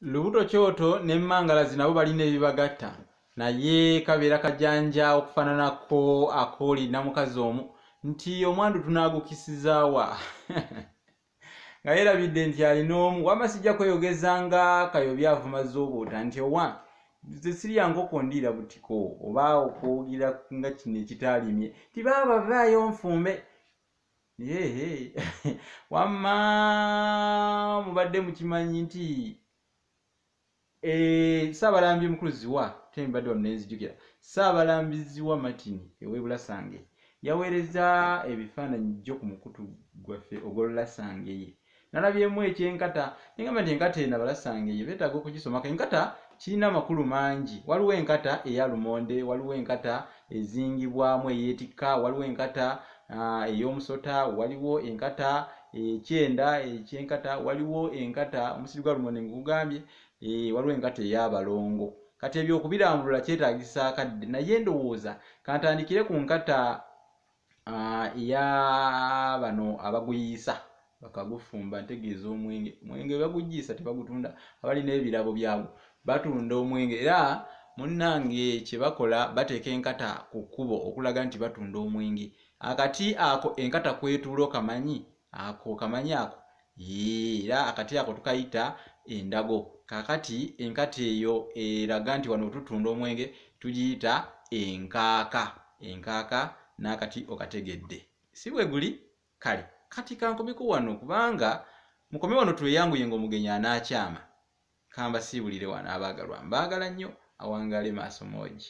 lubuto kyoto ne mangalazi nabo balina ebibagatta naye kabeera kajanja okufananako akooli namukazi omu nti omwandu tunagukisizaawa nga yerabidde nti alina omu wama sijja kweyogeza nga kayobi avuma zobuuta nti owa zesirya nkoko ndiira butiko oba okwogera nga kino ekitaalimye ti baaba vaayo nfumbe Hey, wamma mubadde mukimanyi nti eh, saabalambi omukulu ziwa tembadde wano nenzijukira saabalambi ziwa martin ewebulasange yaweereza ebifaananyi jjo ku mukutu gwaffe ogwolulasange ye nalabyemu ekyenkata nengamba nti enkata eno abalasanga eyo betaaga okugisomako enkata kirina amakulu mangi waliwo enkata eya lumonde waliwo enkata ezingibwamu eyetikka waliwo enkata ah, ey'omusota waliwo enkata ekyenda ekyenkata waliwo enkata omusiri gwa lumonde ngugambye eh, waliwo enkata ey'abalongo kati ebyo okubirambulula kyetagisa akadde naye ndowooza kantandikire ku nkata Ah, ya bano abaguyiisa bakagufumba ntegeeza omwenge omwenge bagujiisa tebagutunda abali n'ebirabo byabwe batunda omwenge era munnange kye bakola bateeka enkata ku kkubo okulaga nti batunda omwenge akati ako enkata kwetuula okamanyi ako kamanyi ako era akati ako tukayita endago kakati enkati eyo eraga nti wano wetutunda omwenge tugiyita enkaaka enkaaka n'akati okategedde si bwe guli kale kati kankomeko wano kubanga mukome wano tweyanguye nga omugenyi anaakyama kamba siibulire wano abaagalwa mbaagala nnyo awangaale maaso moogi